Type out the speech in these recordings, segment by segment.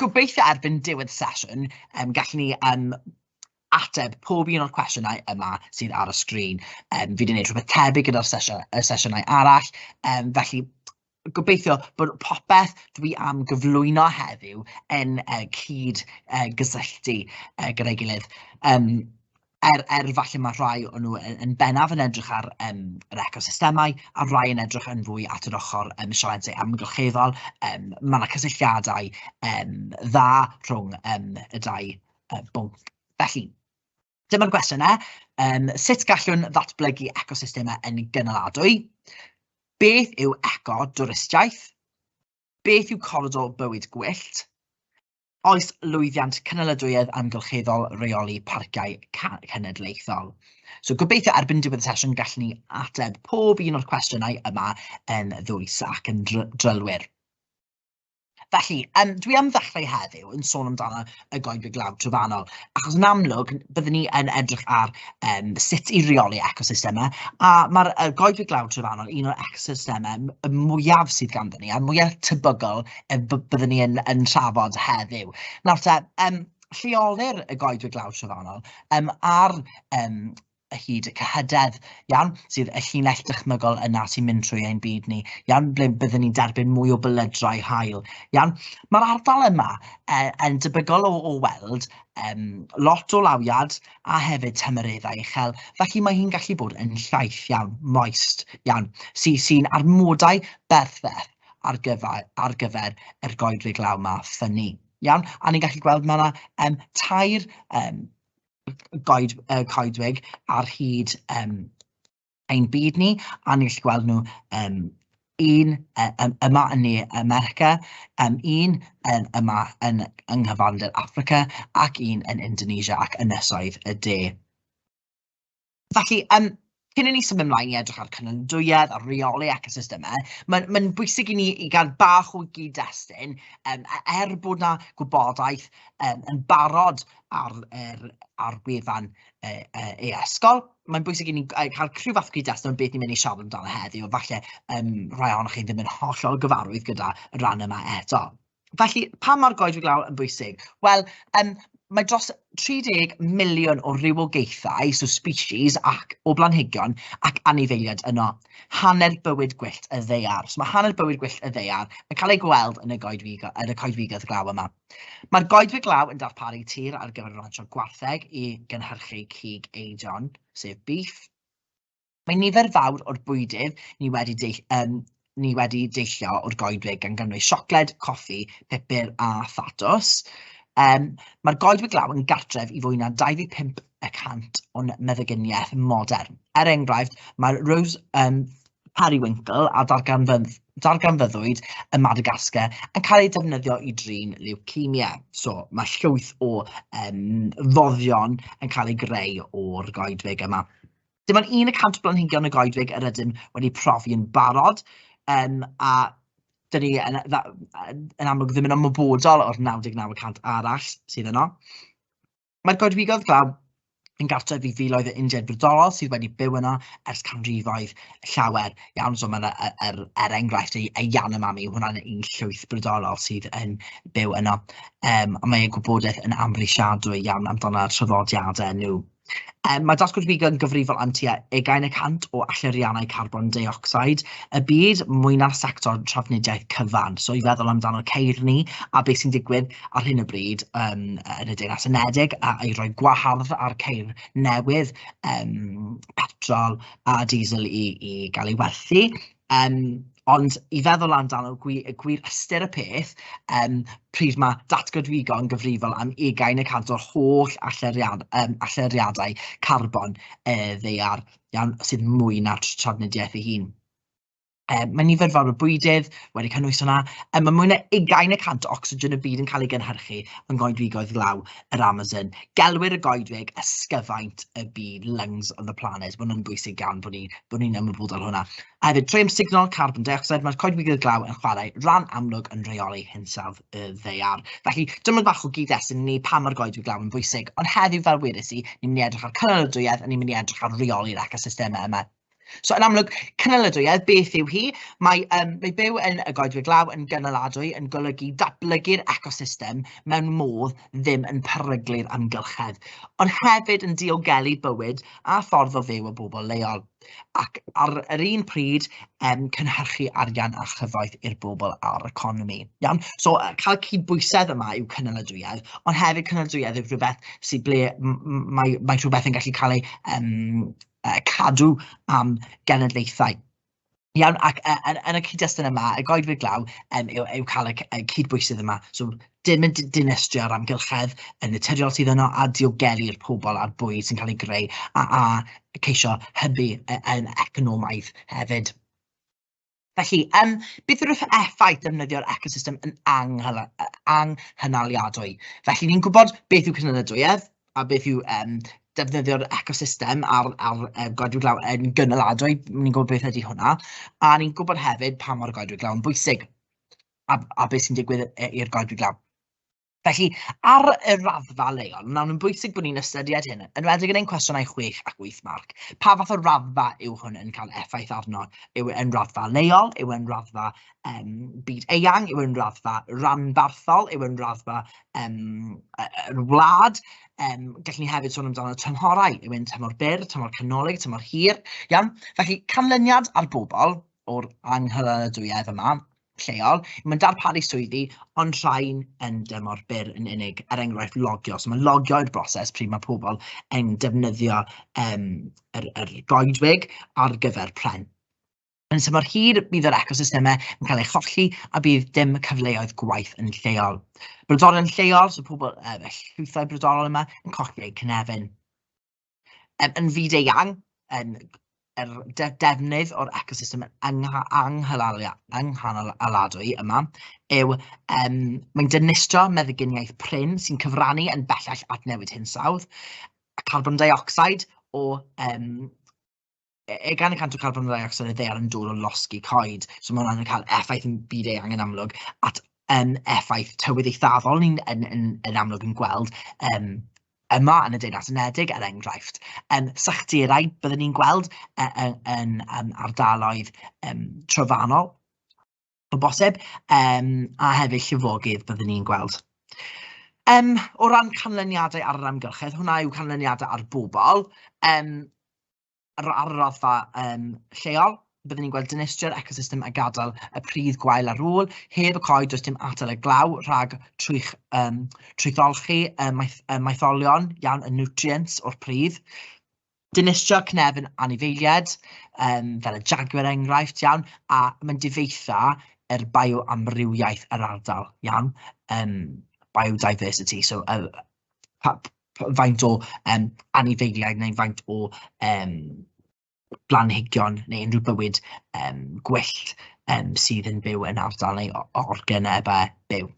gobeithio erbyn diwedd y sesiwn, yym gallen ni yym ateb pob un o'r cwestiynau yma sydd ar y sgrin. Yym fi 'di wneud rhywbeth tebyg gyda'r sesiy- y sesiynau arall, yym felly gobeithio bod popeth dwi am gyflwyno heddiw yn yy cyd-gysylltu gyda'i gilydd. Yym. er, er falle mae rhai o'n nhw yn, yn bennaf yn edrych ar um, yr ecosystemau a rhai yn edrych yn fwy at yr ochr um, sialensau amgylcheddol. Um, mae yna cysylltiadau um, dda rhwng um, y dau um, bwnc. Felly, dyma'r gwestiynau. Um, sut gallwn ddatblygu ecosystemau yn gynaladwy? Beth yw eco-dwristiaeth? Beth yw coridor bywyd gwyllt? Oes lwyddiant cynaliadwyedd amgylcheddol reoli parciau cenedlaethol? So gobeithio erbyn diwedd y sesiwn gallwn ni ateb pob un o'r cwestiynau yma yn ddwys ac yn drylwyr. Felly, um, dwi am ddechrau heddiw yn sôn amdano y goedwig lawr trofannol, achos yn amlwg, byddwn ni yn edrych ar um, sut i reoli ecosystemau, a mae'r uh, goedwig lawr trofannol un o'r ecosystemau y mwyaf sydd ganddyn ni, a'r mwyaf tebygol yy b- byddwn ni yn yn trafod heddiw. Nawr te, yym lleolir y goedwig lawr trofannol yym ar yym y hyd y cyhydedd, iawn, sydd y llinell dychmygol yna sy'n mynd trwy ein byd ni, iawn, ble byddwn ni'n derbyn mwy o bylydrai hael, iawn. Mae'r ardal yma e, yn debygol o, o weld um, lot o lawiad a hefyd tymereddau uchel, felly mae hi'n gallu bod yn llaith iawn, moist iawn, sy'n sy, sy amodau berffaith ar gyfer, ar gyfer yr goedwig law ma ffynnu. Iawn, a ni'n gallu gweld mae yna um, tair um, goed, uh, coedwig ar hyd um, ein byd ni, a ni'n gallu gweld nhw um, un um, yma yn ne America, um, un um, yma yn, yng nghyfandir Africa ac un yn Indonesia ac ynysoedd y de. Felly, yym, cyn i ni symud ymlaen i edrych ar cynnydwyedd a rheoli ecosystemau, mae'n mae'n bwysig i ni i gael bach o gyd-destun, yym, e- er bod 'na gwybodaeth yym yn barod ar yr ar gwefan e- e- e-ysgol, mae'n bwysig i ni g- yy cael rhyw fath o gyd-destun o beth ni'n mynd i siarad amdano heddiw, falle yym rhai ohonoch chi ddim yn hollol gyfarwydd gyda'r ran yma eto. Felly, pa mor goedwig lawr yn bwysig? Wel, um, mae dros 30 miliwn o rywogaethau, so species, ac o blanhigion ac anifeiliaid yno. Hanner bywyd gwyllt y ddeiar. So mae hanner bywyd gwyllt y ddeiar yn cael ei gweld yn y goedwig, yn y coedwigoedd glaw yma. Mae'r goedwig glaw yn darparu tir ar gyfer y rancho gwartheg i gynhyrchu cig eidion, sef beef, Mae nifer fawr o'r bwydydd ni wedi deu- yym ni wedi deillio o'r goedwig gan gynnwys siocled, coffi, pupur a thatws. Yym mae'r goedwig law yn gartref i fwy na 25 y cant o'n meddyginiaeth modern. Er enghraifft, mae'r Rose um, Periwinkle a darganfydd- darganfyddwyd ym Madagascar yn cael ei defnyddio i drin leucemia. So mae llwyth o um, foddion yn cael ei greu o'r goedwig yma. Dim ond un y cant blanhigion y goedwig yr ydym wedi profi yn barod, um, a dyn ni yn, yn amlwg ddim yn ymwybodol o'r 99 y cant arall sydd yno. Mae'r goedwigoedd glaw yn gartref i filoedd o Indiaid brodorol sydd wedi byw yno ers canrifoedd llawer iawn. So mae'n er, er, er enghraifft ei, ei Yanomami, hwnna'n un llwyth brodorol sydd yn byw yno. Um, mae ei gwybodaeth yn amhrisiadwy iawn amdano'r traddodiadau nhw. Um, mae Dasgwr Figo yn gyfrifol am tua ugain y cant o allyriannau carbon deuocsid y byd, mwy na'r sector trafnidiaeth cyfan. So i feddwl amdano ceirni a beth sy'n digwydd ar hyn o bryd um, yn y Deyrnas Unedig a i roi gwahardd ar ceir newydd um, petrol a diesel i, i gael ei werthu. Yym, ond i feddwl amdano gwir, gwir ystyr y peth, um, pryd mae datgodwygo yn gyfrifol am ugain y cant o'r holl alleriad, um, alleriadau carbon e, ddeiar iawn sydd mwy na'r trafnidiaeth ei hun. Um, mae nifer fawr o bwydydd wedi cynnwys hwnna. Um, mae mwy na ugain y cant o ocsigen y byd yn cael ei gynhyrchu yn goedwigoedd glaw. yr Amazon, gelwir y goedwig ysgyfaint y byd, lungs of the planet, maen nhw'n bwysig iawn bod ni'n bod ni'n ymwybodol hwnna. A hefyd, trwy amsugno carbon dioxide, mae'r coedwigoedd glaw yn chwarae rhan amlwg yn reoli hinsawdd y ddeiar. Felly, dyma bach o gyd-destun ni pa mae'r goedwig glaw yn bwysig, ond heddiw fel wedes i, ni'n mynd i edrych ar cynaladwyedd a ni'n mynd i edrych ar reoli'r ecosystemau yma So yn amlwg, cynaliadwyedd, beth yw hi? Mae, um, mae byw yn y goedwig law yn gynaladwy yn golygu datblygu'r ecosystem mewn modd ddim yn peryglu'r amgylchedd, ond hefyd yn diogelu bywyd a ffordd o fyw y bobl leol, ac ar yr un pryd um, cynhyrchu arian a chyfoeth i'r bobl a'r economi. Iawn? So cael cydbwysedd yma yw cynaladwyedd, ond hefyd cynaladwyedd yw rhywbeth sydd ble mae, mae rhywbeth yn gallu cael ei um, yy cadw am genedlaethau. Iawn, ac yy yn yn y cyd-destun yma, y goedwig glaw yym yw yw cael y c- y cyd-bwysedd yma, so dim yn d- dinistrio yr amgylchedd yn naturiol sydd yno a diogelu'r pobl a'r bwyd sy'n cael ei greu a a ceisio hybu y yym economaidd hefyd. Felly, yym, beth yw'r eff- effaith defnyddio'r ecosystem yn anghyla- yy anghynaliadwy? Felly, ni'n gwybod beth yw cynaliadwyedd, a beth yw yym defnyddio'r ecosystem a'r a'r yy goedwig glaw yn gynaladwy, ni'n gwybod beth ydy hwnna, a ni'n gwybod hefyd pa mor goedwig glaw yn bwysig, a a be sy'n digwydd yy i'r goedwig glaw. Felly, ar y raddfa leol, mae'n amlwg bwysig bod ni'n ystyried hyn, yn wedyn yn ein cwestiynau 6 ac 8 marc. Pa fath o raddfa yw hwn yn cael effaith arno? Yw e yn raddfa leol? Yw e'n raddfa um, byd eang? Yw e'n raddfa ranbarthol? Yw e'n raddfa um, yr wlad? Um, gallwn ni hefyd sôn amdano tymhorau. Yw e'n tymor byr, tymor canolig, tymor hir? Iawn? Felly, canlyniad ar bobl o'r anghyfaradwyedd yma lleol, mae'n darparu swyddi, ond rhain yn dymor byr yn unig, er enghraifft logio. So mae logio i'r broses pryd mae pobl yn defnyddio um, yr, yr goedwig ar gyfer pren. Yn symor hir, bydd yr ecosystemau yn cael ei cholli a bydd dim cyfleoedd gwaith yn lleol. Brodorol yn lleol, so pobl, uh, llwythau brodorol yma, yn colli eu cynefin. Yn, yn fyd-eang, yn yr de defnydd o'r ecosystem anghanaladwy yma yw, um, mae'n dynistro meddyginiaeth prin sy'n cyfrannu yn bellach at newid hinsawdd, a carbon dioxide o um, e, e gan y cant o carbon dioxide y ddear yn dod o losgi coed, so mae hwnna'n cael effaith yn byd eang yn amlwg, at um, effaith tywydd eithafol ni'n yn, yn, yn amlwg yn gweld um, yma yn y Deyrnas Unedig, er enghraifft. Um, Sachtirau, byddwn ni'n gweld e, e, yn, yn, yn ardaloedd um, trofannol, o bosib, um, a hefyd llifogydd byddwn ni'n gweld. Um, o ran canlyniadau ar yr amgylchedd, hwnna yw canlyniadau ar bobl, um, ar, ar y raddfa um, lleol, byddwn ni'n gweld dynistrio'r ecosystem a gadael y pridd gwael ar ôl, heb y coed does dim atal y glaw rhag trwych, um, trwytholchi y, maeth, y maetholion iawn y nutrients o'r pridd. Dinistrio cnefin anifeiliaid, um, fel y jaguar enghraifft, iawn, a mae'n difeitha yr bioamrywiaeth yr ardal, iawn, um, biodiversity, so uh, pa, pa, faint o um, anifeiliaid neu faint o um, blanhigion neu unrhyw bywyd um, gwyllt um, sydd yn byw yn ardal neu organebau byw.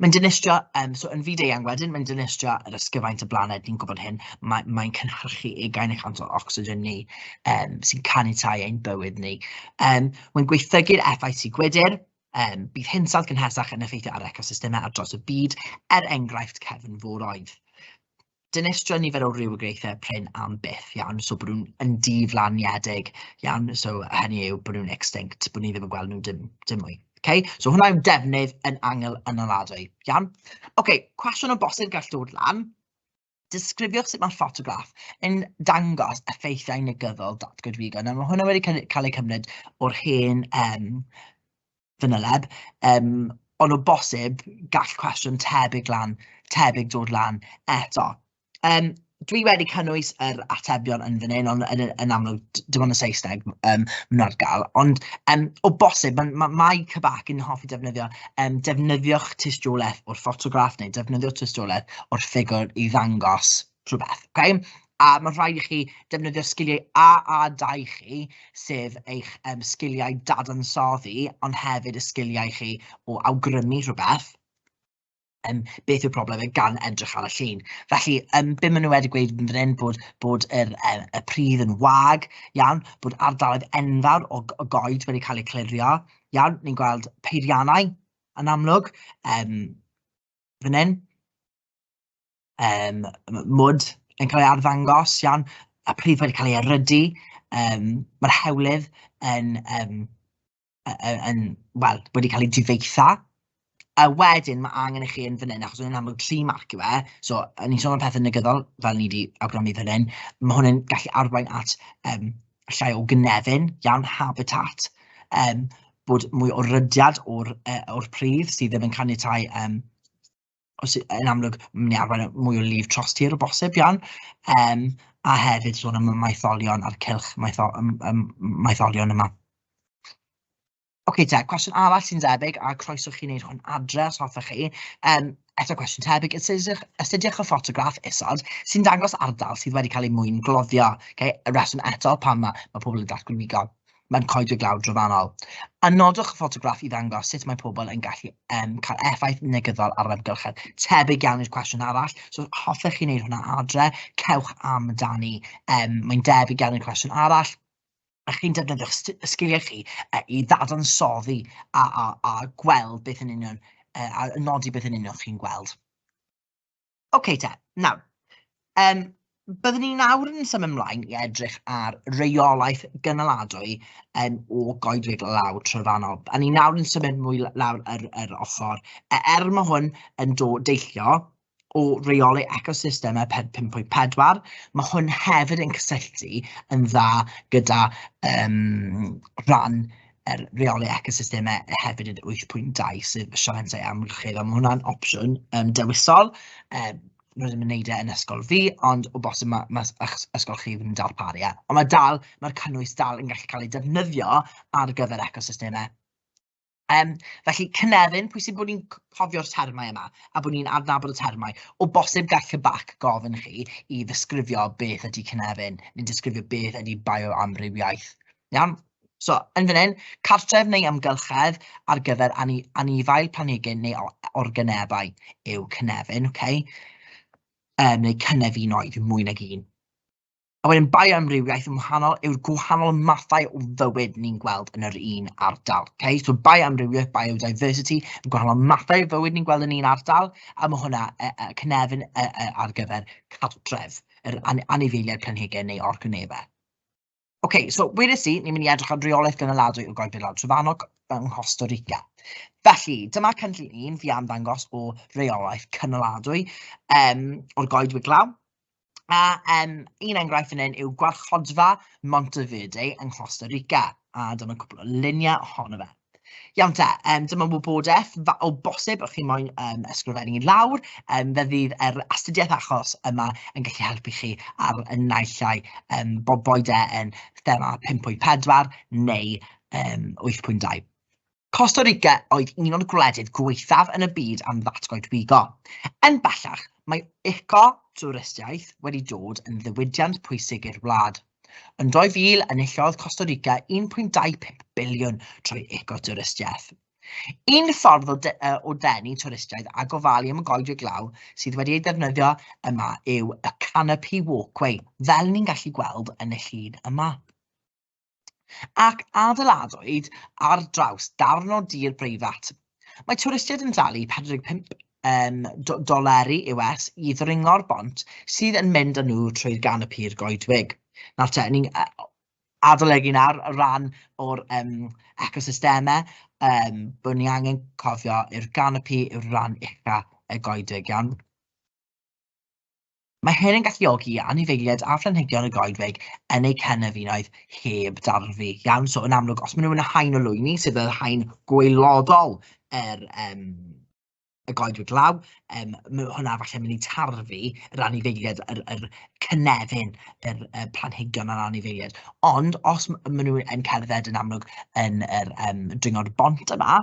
Mae'n dinistrio, um, so yn fyd eang wedyn, mae'n dinistrio yr ysgyfaint y blaned, ni'n gwybod hyn, mae'n mae cynhyrchu ugain y cant o ocsigen ni, um, sy'n caniatau ein bywyd ni. Um, mae'n gweithygu'r effaith sy'n gwydr, um, bydd hinsawdd gynhesach yn effeithio ar ecosystemau ar dros y byd, er enghraifft cefn fwroedd. dinistrio nifer o rywogaethau prin am byth iawn, so bod nhw'n yn diflaniedig iawn, so hynny yw bod nhw'n extinct, bod ni ddim yn gweld nhw dim, dim mwy. Okay? So hwnna yw defnydd yn angl ynoladwy. Iawn? Okay, cwestiwn o bosib gall dod lan. Disgrifiwch sut mae'r ffotograff yn dangos effeithiau negyddol datgwyd figo. Nawr mae hwnna wedi cael ei cymryd o'r hen um, fanyleb, yym ond o bosib gall cwestiwn tebyg lan, tebyg dod lan eto. Yym dwi wedi cynnwys yr atebion yn fan hyn, ond yn yn amlwg dim ond y Saesneg yym maen nhw ar gael, ond yym o bosib ma' ma' Mae Kebak yn hoffi defnyddio yym defnyddiwch tystiolaeth o'r ffotograff neu defnyddio tystiolaeth o'r ffigwr i ddangos rhywbeth, ok? A mae'n rhaid i chi defnyddio'r sgiliau A a 2 chi, sef eich um, sgiliau dadansoddi, ond hefyd y sgiliau chi o awgrymu rhywbeth, um, beth yw'r problem e gan edrych ar y llun. Felly, um, be maen nhw wedi gweud yn fan hyn, bod, bod yr, um, y pridd yn wag, iawn, bod ardaloedd enfawr o, o goed wedi cael eu clirio, iawn, ni'n gweld peiriannau yn amlwg, um, fan hyn, yym mwd yn cael ei arddangos, iawn, a pryd mae'n cael ei erydu, yym mae'r hewlydd yn yym yy yn wel wedi cael ei difetha. A wedyn ma' angen i chi yn fan hyn, achos mae'n amlwg tri marc yw e, so o'n i'n sôn am pethe negyddol fel ni 'di awgrymu fan hyn, ma' hwn yn gallu arwain at yym llai o gynefin, iawn, habitat, yym bod mwy o rydiad o'r yy o'r pridd sydd ddim yn caniatáu yym os yn amlwg mynd i arwain at mwy o lif tros tir o bosib iawn, yym a hefyd sôn am y maetholion a'r cylch maetho- yym yym maetholion yma. Ocê te, cwestiwn arall sy'n debyg, a croeso chi wneud hwn adre os hoffech chi, yym eto cwestiwn tebyg, astudiwch astudiwch y ffotograff isod sy'n dangos ardal sydd wedi cael ei mwyngloddio, ocê, y rheswm eto pam ma' ma' pobl yn datgwrnigo. mae'n coedwig lawr drofannol. A nodwch y ffotograff i ddangos sut mae pobl yn gallu um, cael effaith negyddol ar yr amgylchedd. Tebyg iawn i'r cwestiwn arall, so hoffech chi wneud hwnna adre, cewch am dani. Um, mae'n debyg iawn i'r cwestiwn arall, a chi'n defnyddio'ch sgiliau chi uh, i ddadansoddi a, a, a gweld beth yn union, uh, a nodi beth yn union chi'n gweld. OK te, nawr, um, byddwn ni nawr yn symud ymlaen i edrych ar reolaeth gynaladwy um, o goedwig law trofannol. A ni nawr yn symud mwy lawr yr, yr ochr, e, er mae hwn yn dod deillio o reoli ecosystemau 5.4, mae hwn hefyd yn cysylltu yn dda gyda um, rhan er reoli ecosystemau hefyd yn wyth pwynt dau sef y sialensau amgylchedd, a ma' hwnna'n opsiwn yym dewisol, yym nhw ddim yn wneud e yn ysgol fi, ond o bosib ma' ma' ys- ysgol chi ddim yn darparu e, ond ma' dal, ma'r cynnwys dal yn gallu cael ei defnyddio ar gyfer ecosystemau. Yym felly Cynefin, pwysig bod ni'n c- cofio'r termau yma, a bod ni'n adnabod y termau. O bosib gall y bac gofyn chi i ddisgrifio beth ydy Cynefin, neu disgrifio beth ydy bioamrywiaeth, iawn? So, yn fan hyn, cartref neu amgylchedd ar gyfer ani anifail planhigyn neu organebau yw cynefin, okay? um, neu cynefinoedd mwy nag un. A wedyn bioamrywiaeth yn wahanol yw'r gwahanol mathau o fywyd ni'n gweld yn yr un ardal. Okay? So bioamrywiaeth, biodiversity, y gwahanol mathau o fywyd ni'n gweld yn un ardal, a mae hwnna e, e, cynefin e, e, ar gyfer cartref, yr an anifeiliaid planhigyn neu organebau. Ok, so weles i, ni'n mynd i edrych ar reolaeth gynaladwy o Gogledd Lawr Trefanog yng Nghosta Rica. Felly, dyma cynllun un fi am ddangos o reolaeth cynaladwy um, o'r goedwig glaw. A um, un enghraifft yn un yw gwarchodfa Monteverde yng Nghosta Rica, a dyna cwbl o luniau ohono fe. Iawn te, um, dyma wybodaeth o bosib o'ch chi moyn um, ysgrifennu lawr. Um, fe fydd yr astudiaeth achos yma yn gallu helpu chi ar y naillai um, bob boed e yn thema 5.4 neu um, 8.2. Costa Rica oedd un o'r gwledydd gweithaf yn y byd am ddatgoedwigo. Yn bellach, mae eco-twristiaeth wedi dod yn ddiwydiant pwysig i'r wlad – Yn 2000, enillodd Costa Rica 1.25 biliwn trwy ecotouristiaeth. Un ffordd o, de, o denu twristiaid a gofalu am y goedwig glaw sydd wedi ei ddefnyddio yma yw y Canopy Walkway, fel ni'n gallu gweld yn y llun yma. Ac adeiladwyd ar draws darn o dir breifat Mae twristiaid yn talu 45 um, doleri US i ddringo'r bont sydd yn mynd â nhw trwy gan y pur goedwig. Nawr te, ni'n adolygu nawr ran o'r um, ecosystemau, um, bod ni angen cofio i'r ganopi yw'r ran ucha y goedwig iawn. Mae hyn yn galluogi i anifeiliaid a phlanhigion y goedwig yn eu cynefinoedd heb darfu. Iawn, so yn amlwg, os maen nhw'n haen o lwyni, sydd yr haen gweilodol yr um, y goedwig law, um, hwnna falle mynd i tarfu yr anifeiliaid, yr, yr cynefin, yr, y planhigion a'r anifeiliaid. Ond os maen nhw yn cerdded yn amlwg yn yr um, dringod bont yma,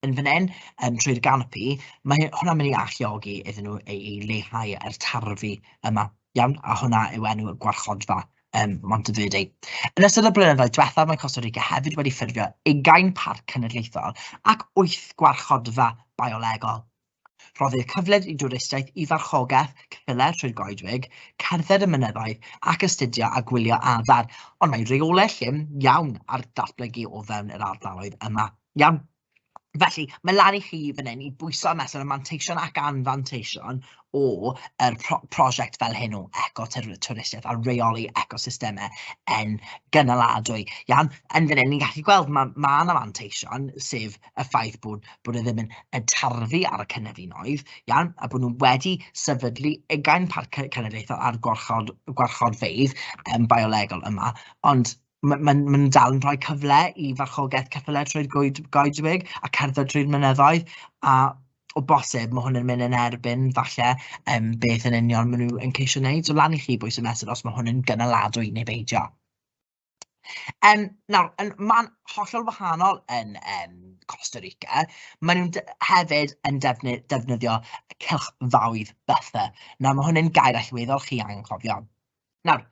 yn fan hyn, um, trwy'r ganopi, mae hwnna'n mynd i alluogi iddyn nhw ei, ei leihau a'r tarfu yma, iawn, a hwnna yw enw y gwarchodfa um, Monteverdi. Yn ystod y blynyddoedd diwethaf, mae Costa Rica hefyd wedi ffurfio ugain parc cenedlaethol ac wyth gwarchodfa biolegol Rhoddir cyfleoedd i dwristiaid i farchogaeth, ceffylau trwy'r goedwig, cerdded y mynyddoedd ac astudio a gwylio adar, ond mae rheolau llym iawn ar datblygu o fewn yr ardaloedd yma. Iawn. Felly, mae lan i chi fan hyn i bwyso a mesur y manteision ac anfanteision o yr pro prosiect fel hyn o eco-twristiaeth a reoli ecosystemau yn gynaladwy. Iawn, yn fan hyn ni'n gallu gweld ma' ma' 'na fanteision, sef y ffaith bod bod e ddim yn yn tarfu ar y cynefinoedd, iawn, a bod nhw wedi sefydlu ugain parc ce- cenedlaethol ar gwarchod gwarchodfeydd yym biolegol yma, ond ma' ma'n ma' nhw'n dal yn rhoi cyfle i farchogaeth ceffylau trwy'r goed- goedwig a cerdded trwy'r mynyddoedd, a o bosib ma' hwn yn mynd yn erbyn falle yym beth yn union ma' nhw yn ceisio wneud, so lan i chi bwy sy'n mesur os ma' hwn yn gynaladwy neu beidio. Um, nawr, yn, mae'n hollol wahanol yn um, Costa Rica. Maen nhw'n hefyd yn defnydd, defnyddio cylchfaoedd buffer. Nawr, mae hwnna'n gair allweddol chi angen cofio. Nawr,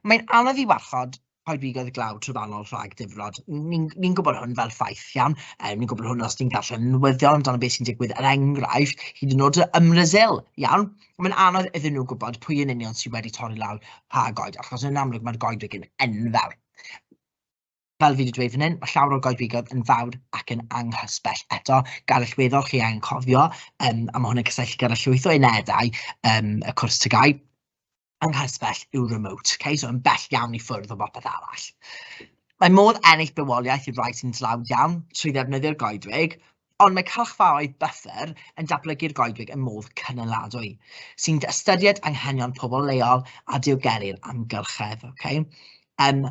mae'n anodd i warchod coedwigoedd glaw trofannol rhag difrod. Ni'n ni, gwybod hwn fel ffaith iawn, um, ni'n gwybod hwn os ni'n darllen newyddion amdano beth sy'n digwydd, er enghraifft, hyd yn oed ym Mrasil, iawn? mae'n anodd iddyn nhw gwybod pwy yn union sydd wedi torri lawr pa goed, achos yn amlwg mae'r goedwig yn enfawr. Fel fi wedi dweud fan hyn, mae llawer o'r goedwigoedd yn fawr ac yn anghysbell. Eto, gael allweddol chi angen cofio, um, a mae hwn yn cysylltu gyda llwyth o unedau um, y cwrs tygau, anghysbell yw remote, okay? so yn bell iawn i ffwrdd o bopeth arall. Mae modd ennill bywoliaeth i'r rhai sy'n dlawd iawn trwy ddefnyddio'r goedwig, Ond mae cylchfaoedd buffer yn datblygu'r goedwig yn modd cynaladwy, sy'n ystyried anghenion pobl leol a diogelu'r amgylchedd. Okay? Um,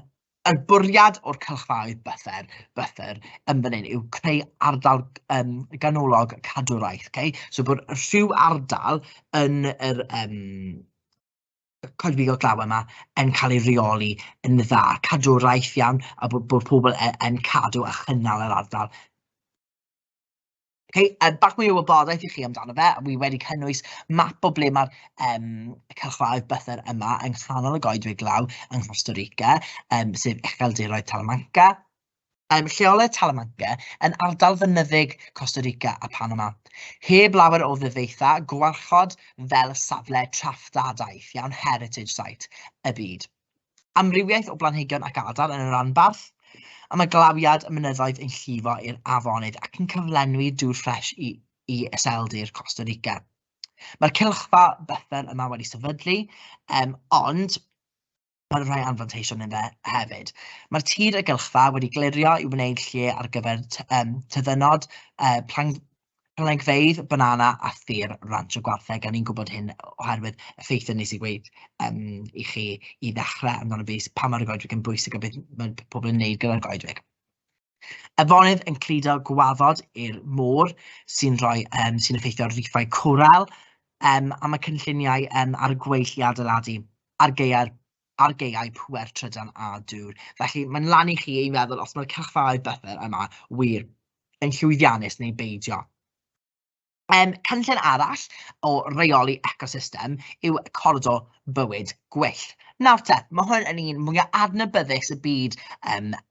y bwriad o'r cylchfaoedd buffer, buffer yn fan hyn yw creu ardal um, ganolog cadwraeth. Okay? So bod rhyw ardal yn yr, um, coedwigo'r glaw yma yn cael ei reoli yn dda, cadw raith iawn a bod, bod pobl yn, yn cadw a chynnal yr ardal. Okay, um, bach mwy o wybodaeth i chi amdano fe, a wi wedi cynnwys map o ble mae'r um, cylchfaoedd bythyr yma yng nghanol y goedwig glaw yng Costa Rica, um, sef Echeldiroedd Talamanca, Mae lleoliad Talamanca yn ardal fynyddig Costa Rica a Panama, heb lawer o ddyfeithau gwarchod fel safle traftadaeth iawn Heritage Site y byd. Amrywiaeth o blanhigion ac adar yn y rhanbarth, a mae glawiad y mynyddoedd yn llifo i'r afonydd ac yn cyflenwi dŵr ffres i i iseldir Costa Rica. Mae'r cylchfa byffel yma wedi sefydlu, um, ond Mae rhai anfanteision yn fe hefyd. Mae'r tir y gylchfa wedi glirio i wneud lle ar gyfer um, tyddynod, uh, plan, planhigfeydd, banana a thir ranch y gwartheg, a ni'n gwybod hyn oherwydd effeithiau nes i gweud um, i chi i ddechrau amdano fi, pa mae'r goedwig yn bwysig a beth mae pobl yn gwneud gyda'r goedwig. Afonydd yn cludo gwaddod i'r môr sy'n rhoi um, sy'n effeithio ar riffau coral um, a mae cynlluniau um, ar y gweill i adeiladu ar gaeau'r ar gaeau pŵer trydan a dŵr. Felly mae'n lan i chi ei meddwl os mae'r cylchfaoedd bythyr yma wir yn llwyddiannus neu beidio. Um, cynllun arall o reoli ecosystem yw cordo bywyd gwyllt. Nawr te, mae hwn yn un mwyaf adnabyddus y byd um,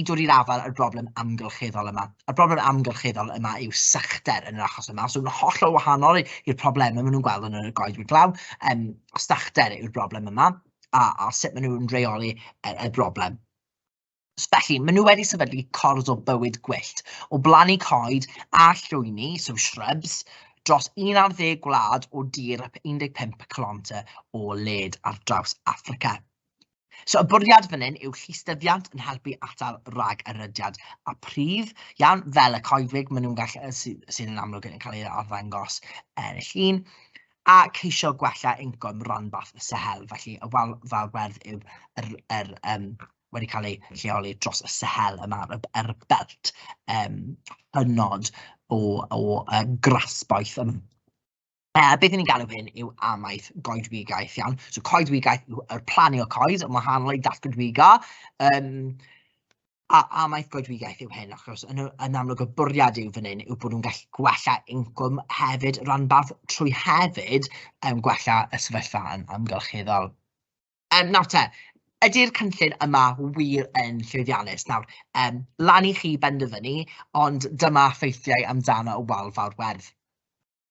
i dod i'r afael â'r broblem amgylcheddol yma. A'r broblem amgylcheddol yma yw sychder yn yr achos yma. So, mae'n hollol wahanol i'r problemau maen nhw'n gweld yn y goedwig glaw. Um, sychder yw'r broblem yma, a, a sut maen nhw'n reoli y, y broblem. Felly, maen nhw wedi sefydlu cors o bywyd gwyllt, o blannu coed a llwyni, so shrubs, dros 11 gwlad o dir 15 km o led ar draws Africa. So y bwriad fan hyn yw llystyfiant yn helpu atal rhag erydiad a prif iawn fel y coedwig maen nhw'n gallu sydd, sy yn amlwg yn cael ei arddangos yn y llun a ceisio gwella incwm ranbarth y sehel. Felly y wal fawr werdd yw yr, yr, um, wedi cael ei lleoli dros y sehel yma ar y belt um, hynod o, o uh, grasboeth yma. Uh, beth ni'n galw hyn yw amaeth goedwigaeth, iawn. So coedwigaeth yw'r plannu o coed yn wahanol i datgydwiga. Um, a amaeth goedwigaeth yw hyn, achos yn, yn amlwg y bwriad yw fan hyn yw bod nhw'n gallu gwella incwm hefyd ranbarth trwy hefyd um, gwella y sefyllfa yn amgylcheddol. Um, nawr te, ydy'r cynllun yma wir yn llwyddiannus? Nawr, um, lan i chi benderfynu, ond dyma ffeithiau amdano y wal fawr werdd.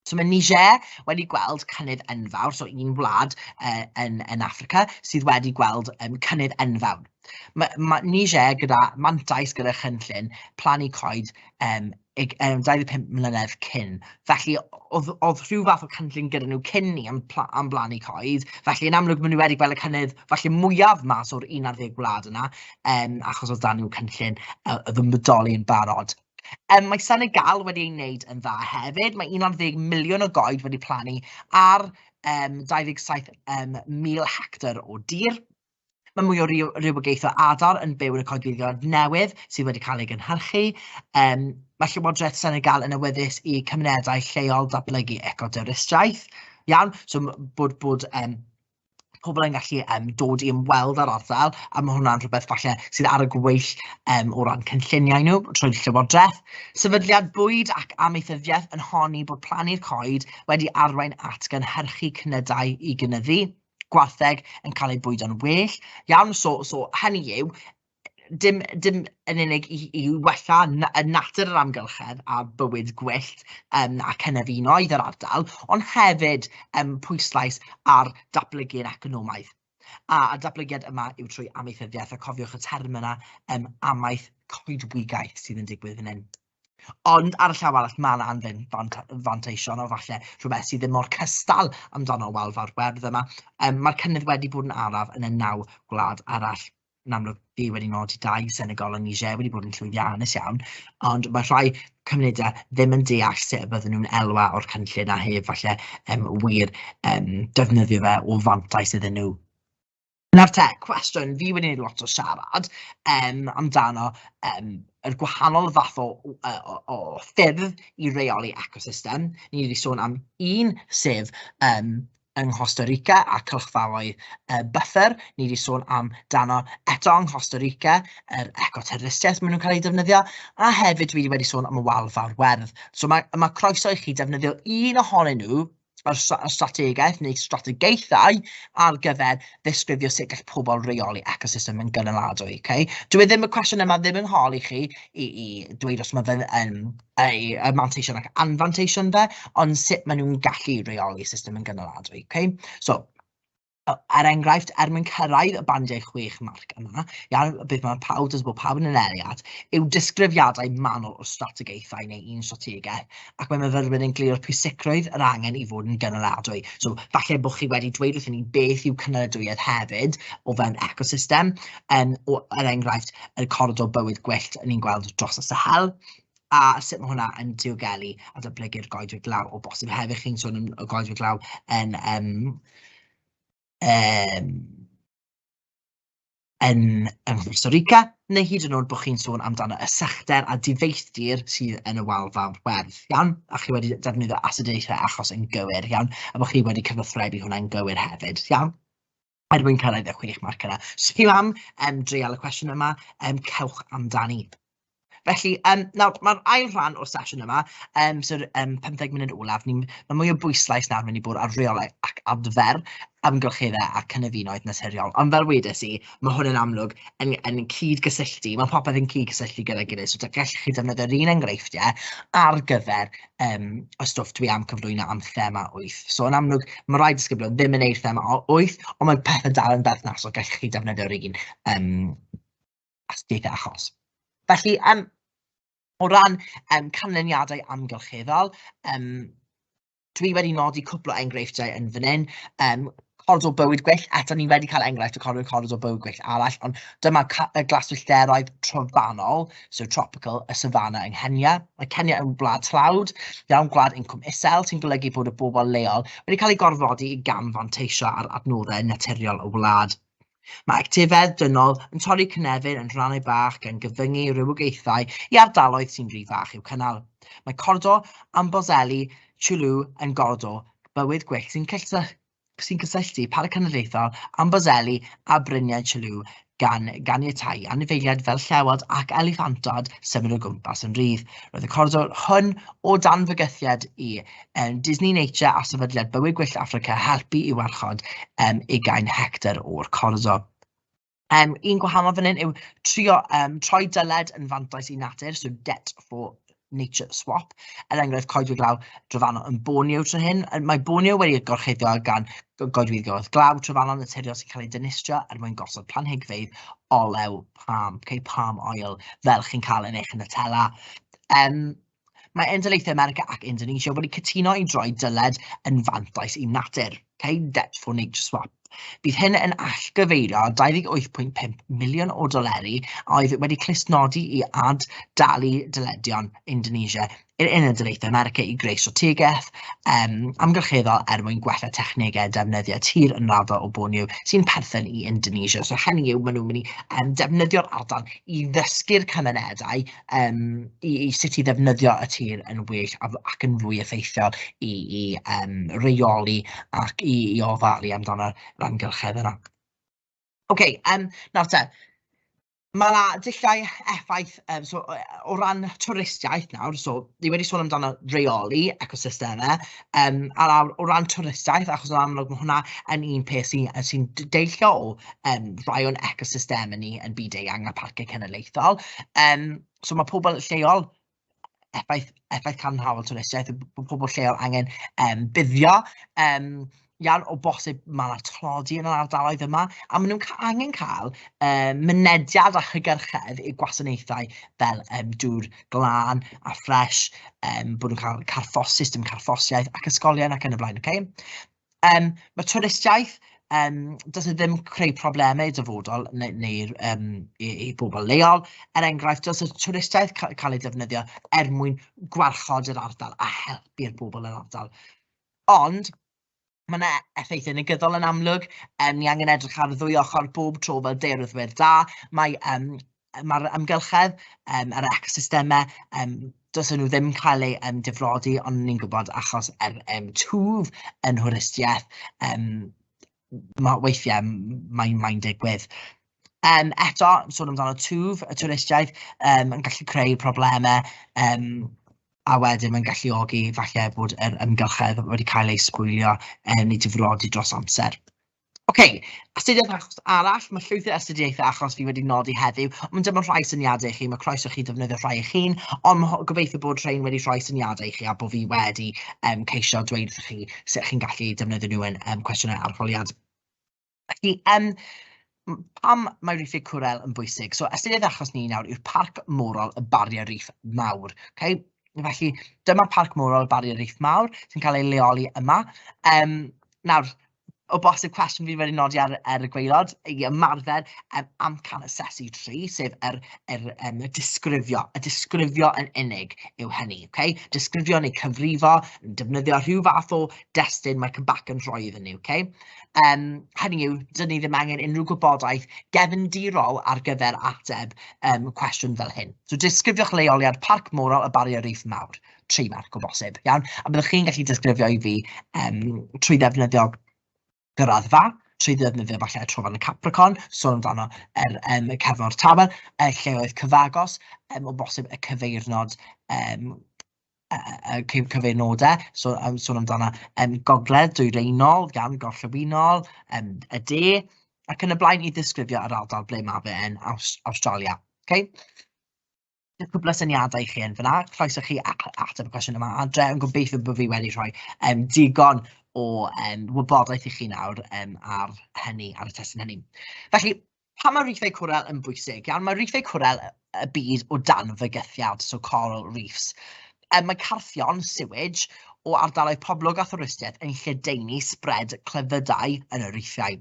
So mae Niger wedi gweld cynnydd enfawr, so un wlad uh, yn, yn Africa sydd wedi gweld um, cynnydd enfawr. Mae, mae Niger gyda mantais gyda chynllun plannu coed um, 25 mlynedd cyn. Felly, oedd, oedd rhyw fath o cynllun gyda nhw cyn ni am, pla, am blannu coed. Felly, yn amlwg, maen nhw wedi gweld y cynnydd felly mwyaf mas o'r 11 wlad yna, um, achos oedd dan nhw cynllun uh, oedd yn bodoli yn barod. Um, mae Senegal wedi ei wneud yn dda hefyd. Mae 11 miliwn o goed wedi plannu ar um, 27 um, mil hectar o dir. Mae mwy o rywogaeth o adar yn byw yn y coedwigoedd newydd sydd wedi cael ei gynhyrchu. Um, mae Llywodraeth Senegal yn awyddus i cymunedau lleol datblygu ecodwristiaeth. Iawn, so bod, bod um, pobl yn gallu yym dod i ymweld â'r ardal, a ma' hwnna'n rhywbeth falle sydd ar y gweill yym o ran cynlluniau nhw trwy'r Llywodraeth. Sefydliad Bwyd ac Amaethyddiaeth yn honni bod plannu'r coed wedi arwain at gynhyrchu cnydau i gynyddu, gwartheg yn cael eu bwydo'n well iawn, so so hynny yw, dim dim yn unig i i wella na- yy natur yr amgylchedd a bywyd gwyllt yym a cynefinoedd yr ardal, ond hefyd yym pwyslais ar datblygu'r economaidd. A y datblygiad yma yw trwy amaethyddiaeth, a cofiwch y term yna yym amaeth coedwigaeth sydd yn digwydd fan hyn. Ond ar y llaw arall ma' 'na anfen fant- fanteision o falle rhywbeth sydd ddim mor cystal amdano wal fawr werdd yma yym ma'r cynnydd wedi bod yn araf yn y naw gwlad arall. yn amlwg fi wedi nodi dau Senegal a Niger wedi bod yn llwyddiannus iawn, ond mae rhai cymunedau ddim yn deall sut y bydden nhw'n elwa o'r cynllun a heb falle um, wir um, defnyddio fe o fantais iddyn nhw. Nawr te, cwestiwn, fi wedi gwneud lot o siarad um, amdano um, yr gwahanol fath o, o, o, o ffyrdd i reoli ecosystem. Ni wedi sôn am un sef um, yng Nghosta Rica a cylchfaoedd y buffer, ni wedi sôn am dano eto yng Nghosta Rica, yr ecoterfystiaeth maen nhw'n cael ei defnyddio, a hefyd dwi wedi sôn am y wal fawr werdd. So mae, mae croeso i chi defnyddio un ohonyn nhw yr strategaeth neu strategaethau ar gyfer ddisgrifio sut gall pobl reoli ecosystem yn gynaladwy. Okay? Dwi e ddim, y cwestiwn yma ddim yn holi chi i, i dweud os mae fe'n yn eu eu manteision ac anfanteision fe, ond sut maen nhw'n gallu rheoli system yn gynaladwy. Okay? So, er enghraifft, er mwyn cyrraedd y bandiau chwech marc yma, iawn, beth mae pawb, does bod pawb yn yn eriad, yw disgrifiadau manwl o strategaethau neu un strategaeth, ac mae myfyrwyr yn glir o'r pwysigrwydd yr angen i fod yn gynaladwy. So, falle bod chi wedi dweud wrthyn ni beth yw cynaladwyedd hefyd o fewn ecosystem, um, o, er enghraifft, y coridor bywyd gwyllt ni'n gweld dros y sahel, a sut mae hwnna yn diogelu a datblygu'r goedwig glaw o bosib hefyd chi'n sôn am y goedwig glaw yn um, um, yn yng Costa Rica, neu hyd yn oed bod chi'n sôn amdano y sechder a difeithdir sydd yn y wal fawr werdd, iawn? A chi wedi defnyddio astudiaethau achos yn gywir, iawn? A bod chi wedi cyfathrebu hwnna'n gywir hefyd, iawn? er mwyn cyrraedd y chwech marc yna. Os so, chi am um, dreial y cwestiwn yma, um, cewch amdani. Felly, um, nawr, mae'r ail rhan o'r sesiwn yma, um, so'r um, 15 munud olaf, ni, mae mwy o bwyslais nawr mynd i bod ar reolau ac adfer amgylcheddau a cynefinoedd naturiol. Ond fel wedes i, mae hwn yn amlwg yn, yn cyd-gysylltu, mae popeth yn cyd-gysylltu gyda'i gilydd, so gallwch chi defnyddio'r un enghreifftiau ar gyfer yym y stwff dwi am cyflwyno am thema wyth. So yn amlwg, ma' rai disgyblion ddim yn wneud thema o- wyth, ond mae pethe dal yn berthnasol, gallech chi defnyddio'r un yym astudiaethau achos. Felly, yym o ran yym canlyniadau amgylcheddol, yym dwi wedi nodi cwpl o enghreifftiau yn fan hyn, yym coridor bywyd gwyllt, eto ni wedi cael enghraifft o coridor, coridor bywyd gwyllt arall, ond dyma y glaswellteroedd trofannol, so tropical, y savanna yng Nghenia. Mae Cenia yn wlad tlawd, iawn gwlad incwm isel, sy'n golygu bod y bobl leol wedi cael eu gorfodi i gamfanteisio ar adnoddau naturiol y wlad. Mae actifedd dynol yn torri cynefin yn rhannau bach gan gyfyngu rhywogaethau i ardaloedd sy'n rhy fach i'w cynnal. Mae cordo Amboseli Chulu yn gordo bywyd gwyllt sy'n sy'n cysylltu Parc Cenedlaethol Amboseli a Bryniau Chulu gan ganiatáu anifeiliaid fel llewod ac eliffantod symud o gwmpas yn rhydd. Roedd y coridor hwn o dan fygythiad i yym Disney Nature a Sefydliad Bywyd Gwyllt Affrica helpu i warchod yym ugain hectar o'r corddo. Yym un gwahanol fan hyn yw trio yym troi dyled yn fantais i natur, so debt for nature swap, er enghraifft coedwig law drofannol yn Borneo tro hyn. Mae Borneo wedi gorchuddio gan goedwig oedd glaw trofannol naturiol sy'n cael ei dynistrio er mwyn gosod planhigfeydd olew palm, okay, palm oil, fel chi'n cael yn eich Nutella. Um, Mae Endolaethau America ac Indonesia wedi cytuno i droi dyled yn fantais i natur, cau debt for nature swap. Bydd hyn yn allgyfeirio 28.5 miliwn o doleri a oedd wedi clustnodi i ad dalu dyledion Indonesia i'r Uned Daleithiau America i greu strategaeth um, amgylcheddol er mwyn gwella technegau defnyddiau tir yn raddo o Borneo sy'n perthyn i Indonesia. So hynny yw, maen nhw'n mynd i um, defnyddio'r ardal i ddysgu'r cymunedau yym i i sut i ddefnyddio y tir yn well a- ac yn fwy effeithiol i i yym reoli ac i i ofalu amdano'r amgylchedd yna. Ok yym nawr te, ma' 'na dulliau effaith yym so o ran twristiaeth nawr, so ni wedi sôn amdano reoli ecosystemau, Yym a nawr o ran twristiaeth, achos yn amlwg ma' hwnna yn un peth sy yy sy'n d- deillio o yym rai o'n ecosystemau ni yn byd-eang a pharciau cenedlaethol. Yym so ma' pobl lleol, effaith effaith cadarnhaol twristiaeth, ma' pobl lleol angen yym buddio yym iawn, o bosib ma' 'na tlodi yn yr ardaloedd yma, a maen nhw'n ca- angen cael yym mynediad a hygyrchedd i gwasanaethau fel yym dŵr glân a ffres, um, bod nhw'n cael carffos, system carffosiaeth ac ysgolion ac yn y blaen. Okay? Um, mae twristiaeth, um, does e ddim creu problemau i dyfodol neu'r neu, neu um, i, i bobl leol. Er enghraifft, does y twristiaeth ca cael ei defnyddio er mwyn gwarchod yr ardal a helpu'r bobl yn ardal. Ond, Mae yna effeithiau negyddol yn amlwg. Um, ni angen edrych ar y ddwy ochr bob tro fel deiryddwyr da. Mae um, mae'r amgylchedd, um, yr ecosystemau, um, dos nhw ddim yn cael eu um, difrodi, ond ni'n gwybod achos yr er, um, twf yn hwristiaeth, um, mae weithiau mae'n mae digwydd. Yym eto, sôn amdano twf, y twristiaid yym yn gallu creu problemau, yym a wedyn mae'n galluogi falle bod yr amgylchedd wedi cael ei sbwylio yy neu difrodi dros amser. Ocê, astudiaeth achos arall, ma' llwyth o astudiaethau achos fi wedi nodi heddiw, ond dyma rhai syniadau i chi, ma' croeso i chi ddefnyddio rhai eich hun, ond ma' ho- gobeithio bod rhein wedi rhoi syniadau i chi a bo' fi wedi yym ceisio dweud wrthoch chi sut chi'n gallu defnyddio nhw yn yym cwestiynau arholiad. Felly, yym, m- pam mae Reefy Cwrel yn bwysig? So, ystyried yr achos ni nawr yw'r Parc Morol y Bariau Reef Mawr, ok? Felly, dyma Parc Morol y Bariau Reef Mawr sy'n cael ei leoli yma. Um, nawr, o bosib cwestiwn fi wedi nodi ar, ar y gweilod i ymarfer um, amcan asesu tri, sef yr, yr, um, y disgrifio. Y disgrifio yn unig yw hynny, okay? disgrifio neu cyfrifo, yn defnyddio rhyw fath o destun mae Cybac yn rhoi iddyn ni. Okay? Yym, hynny yw, 'dyn ni ddim angen unrhyw gwybodaeth gefndirol ar gyfer ateb yym cwestiwn fel hyn. So disgrifiwch leoliad Parc Moral y Barrier Reef Mawr, tri marc o bosib, iawn? A byddwch chi'n gallu disgrifio i fi yym trwy ddefnyddio graddfa, trwy ddefnyddio falle y Trofannau Capricorn, sôn amdano yr yym y Cefn o'r Tafel, y lleoedd cyfagos, yym o bosib y cyfeirnod yym yy cyn cyfeirnodau, so yn sôn amdano yym gogledd dwyraenol gan gorllewinol yym y de ac yn y blaen i ddisgrifio yr ardal ble mae fe yn Aws- Awstralia. Okay? Dyna cwpl o syniadau i chi yn fanna, croeso chi a- a- ateb y cwestiwn yma adre, yn gobeithio bod fi wedi rhoi yym digon o yym wybodaeth i chi nawr yym ar hynny, ar y testun hynny. Felly, Pam mae rifau cwrel yn bwysig? Iawn, mae rifau cwrel y byd o dan fygythiad, so coral reefs. Um, mae carthion, sewage, o ardaloedd poblog a thwristiaeth yn lledaenu sbred clefydau yn y riffiau.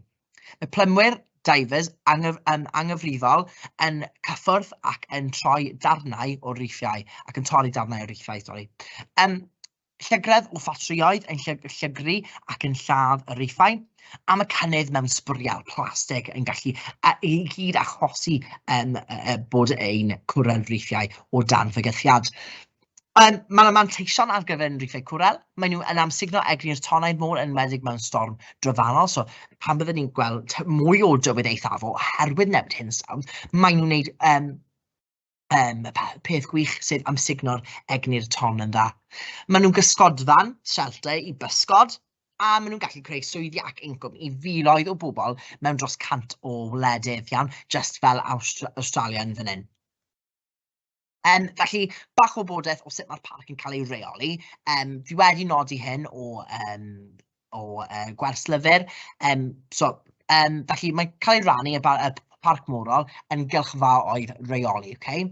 Mae plymwyr, divers, anghyf, um, anghyfrifol yn cyffwrdd ac yn troi darnau o riffiau, ac yn torri darnau o riffiau, sori. Um, Llygredd o ffatrïoedd yn llygru ac yn lladd y rhiffau, am y cynnydd mewn sbwriel plastig yn gallu i gyd achosi um, bod ein cwrel rhiffau o dan fygythiad. Um, mae yna manteision ar gyfer yn rhiffau cwrel. Maen nhw yn amsugno egni'r tonnau'r môr yn wedig mewn storm drofannol. So, pan byddwn ni'n gweld mwy o dywydd eithaf oherwydd newid hinsawdd, maen nhw'n gwneud um, Yym, y pe- peth gwych sydd am sugno'r egni'r ton yn dda. Maen nhw'n gysgodfan, shelter, i bysgod, a maen nhw'n gallu creu swyddi ac incwm i filoedd o bobl mewn dros cant o wledydd, iawn, just fel Awstra- Awstralia yn fan hyn. Um, felly, bach o bodaeth o sut mae'r parc yn cael ei reoli. Um, fi wedi nodi hyn o um, o yy gwerslyfr. Yym so yym felly mae'n cael ei rannu yn y parc morol yn gylchfaoedd reoli, ok?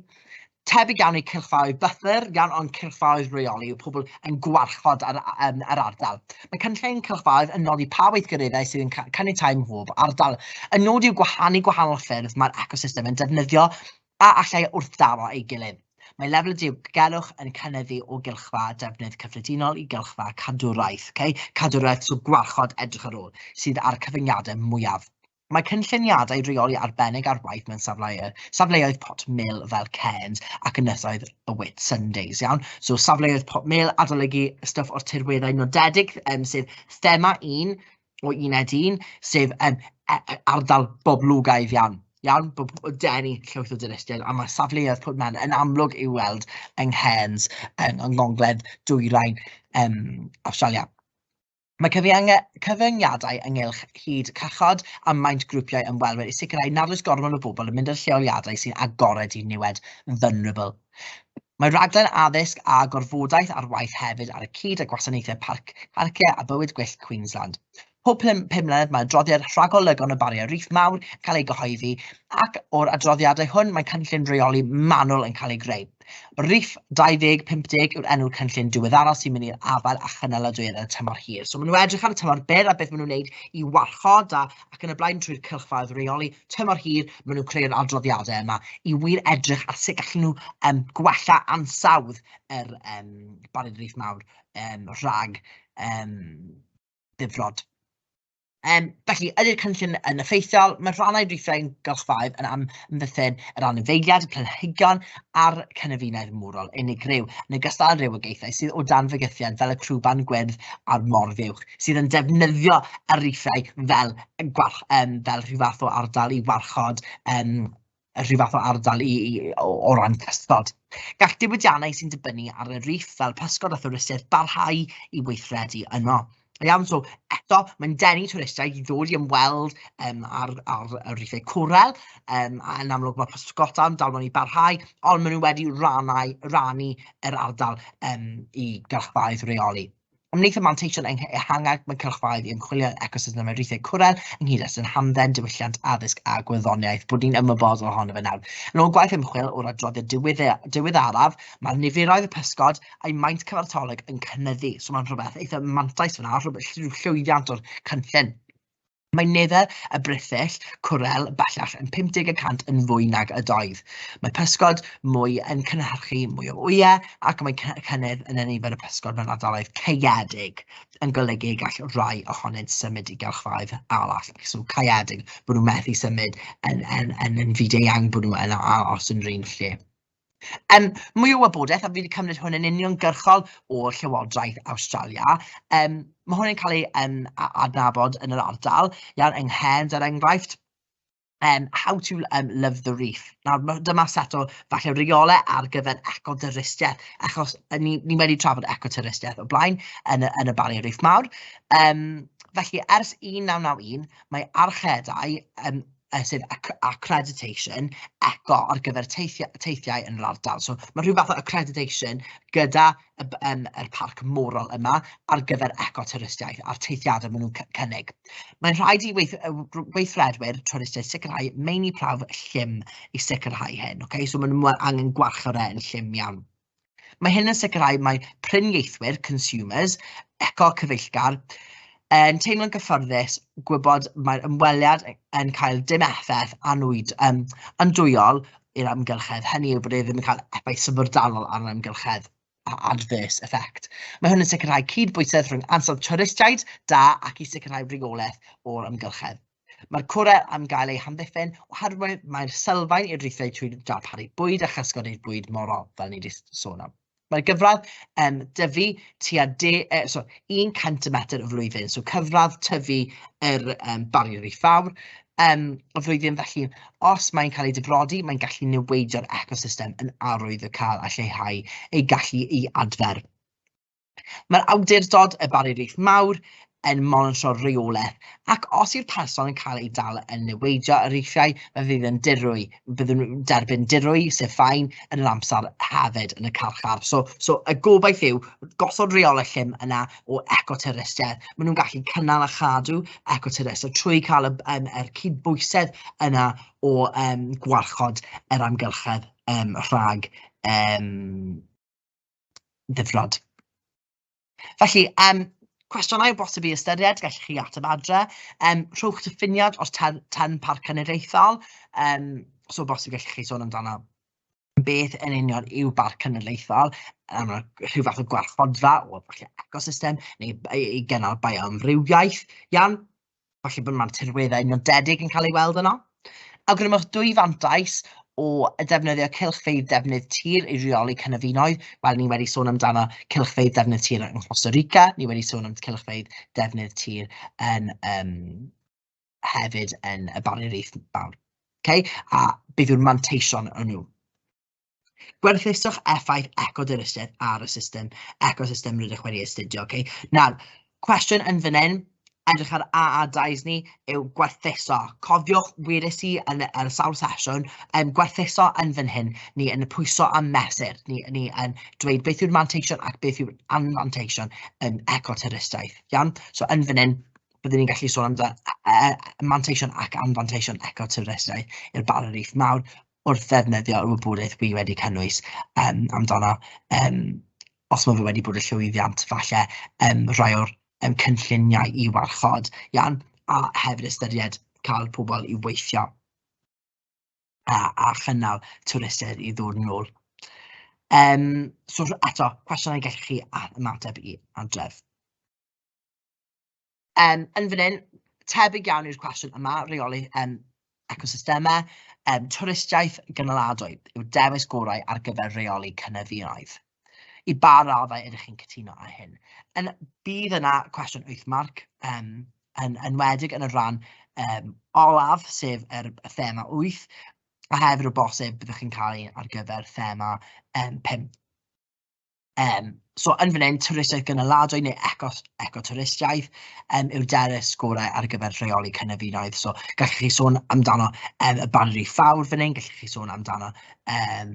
Tebyg iawn i cylchfaoedd bythyr, iawn ond cylchfaoedd reoli yw pobl yn gwarchod yr, um, yr ardal. Mae cynllun cylchfaoedd yn nodi pa weithgareddau sydd yn caniatáu mhob ardal. Y nod yw gwahanu gwahanol ffyrdd mae'r ecosystem yn defnyddio A allai wrthdaro ei gilydd. Mae lefel y diogelwch yn cynyddu o gylchfa defnydd cyffredinol i gylchfa cadwraeth, okay? cadwraeth so gwarchod edrych ar ôl, sydd â'r cyfyngiadau mwyaf. Mae cynlluniadau rheoli arbennig ar waith mewn safleoedd, safleoedd pot mil fel Cairns ac ynysoedd y Whit Sundays, iawn? So safleoedd pot mil, adolygu stwff o'r tirweddau nodedig, um, sef thema un, o uned un, sef um, ardal boblogaidd iawn. Iawn, bob denu llwyth o dwristiaid, a mae safleoedd Port Mewn yn amlwg i'w weld yng Nghairns, yng Ngogledd Dwyrain um, Awstralia. Mae cyfyngiadau ynghylch hyd cachod a maint grwpiau ymwelwyr i sicrhau nad oes gormod o bobl yn mynd i'r lleoliadau sy'n agored i niwed vulnerable. Mae rhaglen addysg a gorfodaeth ar waith hefyd ar y cyd â Gwasanaethau Parc, Parciau a Bywyd Gwyllt Queensland. Pob pum mlynedd mae adroddiad rhagolygon y Bariau Reef Mawr yn cael ei gyhoeddi ac o'r adroddiadau hwn mae cynllun rheoli manwl yn cael ei greu. Reef 2050 yw'r enw'r cynllun diweddaraf sy'n mynd i'r afael â chynaladwyedd yn y tymor hir. So maen nhw edrych ar y tymor byr a beth maen nhw'n wneud i warchod a ac yn y blaen trwy'r cylchfaraoedd reoli tymor hir, maen nhw'n creu'r adroddiadau yma i wir edrych ar sut gallen nhw um, gwella ansawdd yr um, Barod Reith Mawr um, rhag um, ddifrod. Um, felly, ydy'r cynllun yn effeithiol? Mae rhannau rhithiau'n gylchfaoedd yn amddiffyn yr anifeiliad, y planhigion a'r cynefinoedd mwrol unigryw, yn ogystal â'r rhywogaethau sydd o dan fygythiad fel y crwban gwyrdd a'r morfiwch, sydd yn defnyddio y rhithiau fel yn gwarch- yym fel rhyw fath o ardal i warchod yym rhyw fath o ardal i i o o ran cysgod. Gall diwydiannau sy'n dibynnu ar y rîff fel pysgod a thwristiaid barhau i weithredu yno. Da iawn, so eto, mae'n denu twristiaid i ddod i ymweld yym â'r â'r y rîffau cwrel, yym a yn amlwg ma' pysgodau'n dal mewn i barhau, ond maen nhw wedi rannau rannu yr ardal yym i gylchfaoedd reoli. Ymhlith y manteision ehangach mae cylchfaoedd i ymchwilio yn ecosystem amrywiaethau cwrel, yng nghyd-destun hamdden, diwylliant, addysg a gwyddoniaeth, bod ni'n ymwybodol ohono fe nawr. Yn ôl gwaith ymchwil o'r adroddiad diweddaraf, mae'r niferoedd y pysgod a'i maint cyfartalog yn cynyddu, so mae'n rhywbeth eitha' mantais fan'na, rhywbeth llwyddiant o'r cynllun. Mae nifer y brithyll cwrel bellach yn 50 y cant yn fwy nag ydoedd. Mae pysgod mwy yn cynhyrchu mwy o wyau ac mae cynnydd yn nifer y pysgod mewn ardaloedd caeedig yn golygu y gall rhai ohonynt symud i gylchfaoedd arall. So caeedig, bod nhw'n methu symud yn, yn, yn, yn fyd-eang, bod nhw yn aros yn yr un lle. Um, mwy o wybodaeth, a fi wedi cymryd hwn yn uniongyrchol o Llywodraeth Awstralia. Um, mae hwn yn cael ei um, adnabod yn yr ardal, iawn, yng Nghend, er enghraifft, um, how to um, love the reef. Nawr, dyma set o falle reolau ar gyfer ecodyrystiaeth, achos ni, ni wedi trafod ecodyrystiaeth o blaen yn y, yn y Barrier Reef Mawr. Um, felly, ers 1991, mae archedau um, yy sef acc- accreditation, eco ar gyfer teithio- teithiau yn yr ardal. So ma' rhyw fath o accreditation gyda y b- yym yr parc morol yma ar gyfer eco-twristiaeth a'r teithiadau maen nhw'n c- cynnig. Mae'n rhaid i weith- yy r- weithredwyr twristiaeth sicrhau meini prawf llym i sicrhau hyn, ocê, so maen nhw angen gwarchod e yn llym iawn. Mae hyn yn sicrhau mai prin ieithwyr, consumers, eco-cyfeillgar, yn teimlo'n gyfforddus gwybod mae'r ymweliad yn cael dim effaith anwyd, um, andwyol i'r amgylchedd. Hynny yw bod e ddim yn cael effaith syfrdanol ar yr amgylchedd adverse effect. Mae hwn yn sicrhau cyd-bwysedd rhwng ansawdd twristiaid da ac i sicrhau rheolaeth o'r amgylchedd. Mae'r cwrel am gael ei hamddiffyn oherwydd mae'r sylfaen i'r rhithiau trwy darparu bwyd a chysgod i'r bwyd morol, fel ni wedi sôn am. Mae'r gyfradd yn dyfu tua de, eh, so, 100 metr y flwyddyn, so cyfradd tyfu yr um, bariau rif fawr um, y flwyddyn, felly os mae'n cael ei difrodi, mae'n gallu newidio'r ecosystem yn arwydd y cael a lleihau ei gallu i adfer. Mae'r awdurdod, y Barrier-reef Mawr, yn monitro'r rheolaeth, ac os yw'r person yn cael ei dal yn niweidio y riffiau, fe fydd yn dirwy, byddwn nhw'n derbyn dirwy, sef fain, yn yr amser hefyd yn y carchar. So, so y gobaith yw gosod rheolaeth llym yna o ecoterrestriaeth. Maen nhw'n gallu cynnal a chadw ecoterrestriaeth trwy cael y, um, er cydbwysedd yna o um, gwarchod yr amgylchedd um, rhag um, ddifrod. Felly, um, cwestiynau bosib i ystyried, gallwch chi ateb adre. Um, rhowch diffiniad o'r term, term parc cenedlaethol. Um, so bosib gallwch chi sôn amdano beth yn union yw barc cenedlaethol, um, rhyw fath o gwarchodfa o ecosystem neu i gynnal bioamrywiaeth. Iawn, falle bod mae'r tirweddau nodedig yn cael ei weld yno. Awgrymwch dwy fantais o ddefnyddio cylchfeydd defnydd tir i reoli cynefinoedd. Wel, ni wedi sôn amdano cylchfeydd defnydd tir yng Costa Rica, ni wedi sôn am cylchfeydd defnydd tir yn, um, hefyd yn y Barrier Reef Mawr. Okay? A beth yw'r manteision yn nhw? Gwerthuso'ch effaith eco-dinistredd ar y system, ecosystem rydych wedi astudio. Okay? Nawr, cwestiwn yn fan hyn, edrych ar AA-dais ni, yw gwerthuso. Cofiwch, wedes i yn y sawl sesiwn, um, gwerthuso yn fan hyn, ni yn y pwyso a mesur, ni, ni yn dweud beth yw'r manteision ac beth yw'r anfanteision yn um, ecoturistiaeth. Iawn? So yn fan hyn, byddwn ni'n gallu sôn amdano e, e, manteision ac anfanteision ecoturistiaeth i'r barau reith mawr, wrth ddefnyddio yr wybodaeth wi wedi cynnwys yym amdano yym os ma' fe wedi bod yn llwyddiant falle yym rhai o'r yym cynlluniau i warchod iawn, a hefyd ystyried cael pobl i weithio a a chynnal twristiaid i ddod yn ôl. Yym so eto cwestiynau gellwch chi a- ymateb i adref. Yym yn fan hyn, tebyg iawn i'r cwestiwn yma, reoli yym ecosystemau, yym twristiaeth gynaladwy yw'r dewis gorau ar gyfer rheoli cynefinoedd. I ba raddau ydych chi'n cytuno â hyn? Yn... bydd yna cwestiwn wyth marc, yym yn enwedig yn y rhan yym olaf, sef yr y thema wyth, a hefyd o bosib byddwch chi'n cael un ar gyfer thema yym pump. Yym, so yn fan hyn, twristiaeth gynaladwy neu eco ecotwristiaeth yym yw'r derys gorau ar gyfer rheoli cynefinoedd. So gallwch chi sôn amdano yym y Banri Fawr fan hyn, gallwch chi sôn amdano yym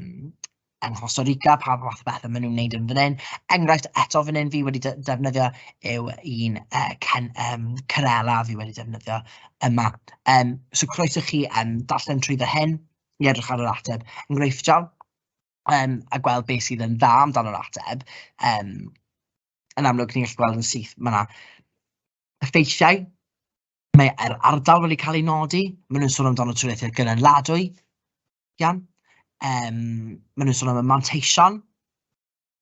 yng Nghosta Rica, pa fath o bethe maen nhw'n wneud yn fan hyn. Enghraifft eto fan hyn fi wedi de- defnyddio yw un yy cen- yym Cerela fi wedi defnyddio yma. Yym so croeso i chi yym darllen trwyddo hyn i edrych ar yr ateb enghreifftiol. yym a gweld beth sydd yn dda amdano yr ateb, yym yn amlwg ni'n gallu gweld yn syth, mae 'na effeithiau, mae yr ardal wedi cael ei nodi, maen nhw'n sôn amdano trwyddedau gynaliadwy, iawn, yym maen nhw'n sôn am y manteision,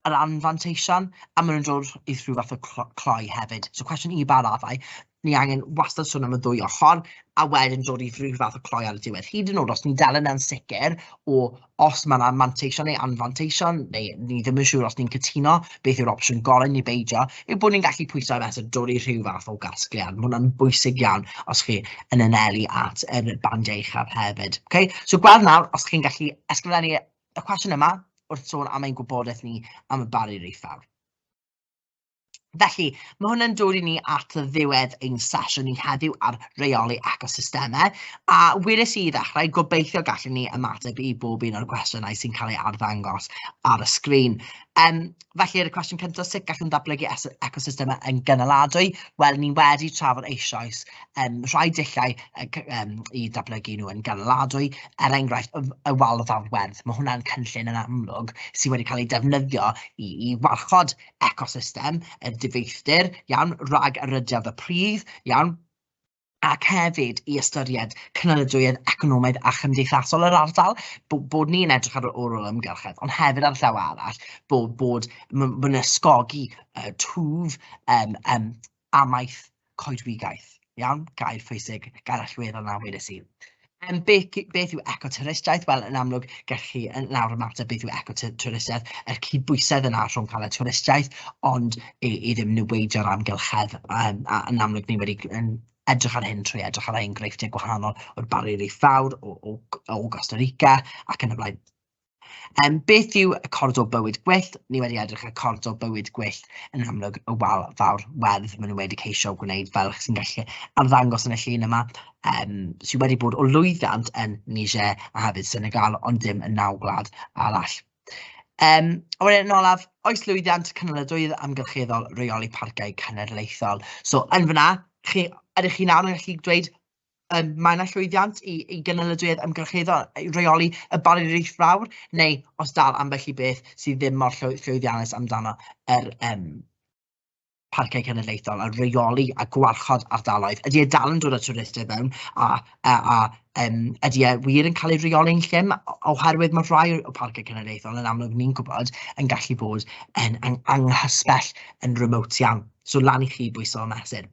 yr anfanteision, a maen nhw'n dod i rhyw fath o clo- cloi hefyd. So cwestiwn i ba raddau ni angen wastad sôn am y ddwy ochr, a wedyn dod i rhyw fath o cloi ar y diwedd. Hyd yn oed os ni'n dal yn ansicr o os mae yna manteision neu anfanteision, neu ni ddim yn siŵr os ni'n cytuno beth yw'r opsiwn gorau neu beidio, yw bod ni'n gallu pwysau mesur dod i rhyw fath o gasgliad. Mae hwnna'n bwysig iawn os chi yn anelu at yr bandiau uchaf hefyd. Okay? So gweld nawr os chi'n gallu ysgrifennu y cwestiwn yma wrth sôn am ein gwybodaeth ni am y barrier eithaf. Felly, mae hwnna'n dod i ni at ddiwedd ein sesiwn ni heddiw ar reoli ecosystemau, a wirus i ddechrau, gobeithio gallen ni ymateb i bob un o'r gwestiynau sy'n cael ei arddangos ar y sgrin. Um, felly, yr y cwestiwn cyntaf, sut gallwn ddatblygu ecosystemau yn gynaladwy? Wel, ni wedi trafod eisoes um, rhai dillau um, i ddatblygu nhw yn gynaladwy, er enghraifft y, y wal o ddafwerth. Mae hwnna'n cynllun yn amlwg sydd wedi cael ei defnyddio i, i warchod ecosystem, y difeithdir, iawn, rhag y rhyddhad y pridd, iawn, ac hefyd i ystyried cynaliadwyedd economaidd a chymdeithasol yr ardal, bod, bod ni'n edrych ar ôl yr ymgyrchedd, ond hefyd ar y llaw arall, bod, bod mae'n ysgogi uh, twf um, um, amaeth coedwigaeth. Iawn, gair pwysig, gair allweddol na wedes i. Um, beth, beth yw ecotwristiaeth? Wel, yn amlwg, gallwch chi yn nawr ymateb beth yw ecotwristiaeth, yr cydbwysedd yna rhwng cael y twristiaeth, ond i, i ddim niweidio'r amgylchedd. Um, a yn amlwg, ni wedi yn edrych ar hyn trwy edrych ar enghreifftiau gwahanol o'r Barrier Reef Fawr, o, o, o Costa Rica ac yn y blaen. Yym beth yw cordro bywyd gwyllt? Ni wedi edrych ar cordro bywyd gwyllt yn amlwg y wal fawr werdd maen nhw wedi ceisio gwneud fel chi'n gallu arddangos yn y llun yma yym sydd wedi bod o lwyddiant yn Niger a hefyd Senegal ond dim yn naw gwlad arall. Yym a wedyn yn olaf, oes lwyddiant cynaliadwyedd amgylcheddol reoli parciau cenedlaethol? So yn fanna, chi ydych chi nawr yn gallu dweud Yym, mae yna llwyddiant i i gynaliadwyedd ymgyrchyddol i reoli y Barrier Fawr, neu os dal ambell i beth sydd ddim mor llwy- llwyddiannus amdano, yr yym Parciau Cenedlaethol, a reoli a gwarchod ardaloedd. Ydy e dal yn dod â twristiaid i fewn, a a a yym ydy e wir yn cael ei reoli'n llym, o- oherwydd ma' rhai o Parciau Cenedlaethol, yn amlwg ni'n gwybod, yn gallu bod yn ang- anghysbell, yn remote iawn, so lan i chi bwyso a mesur.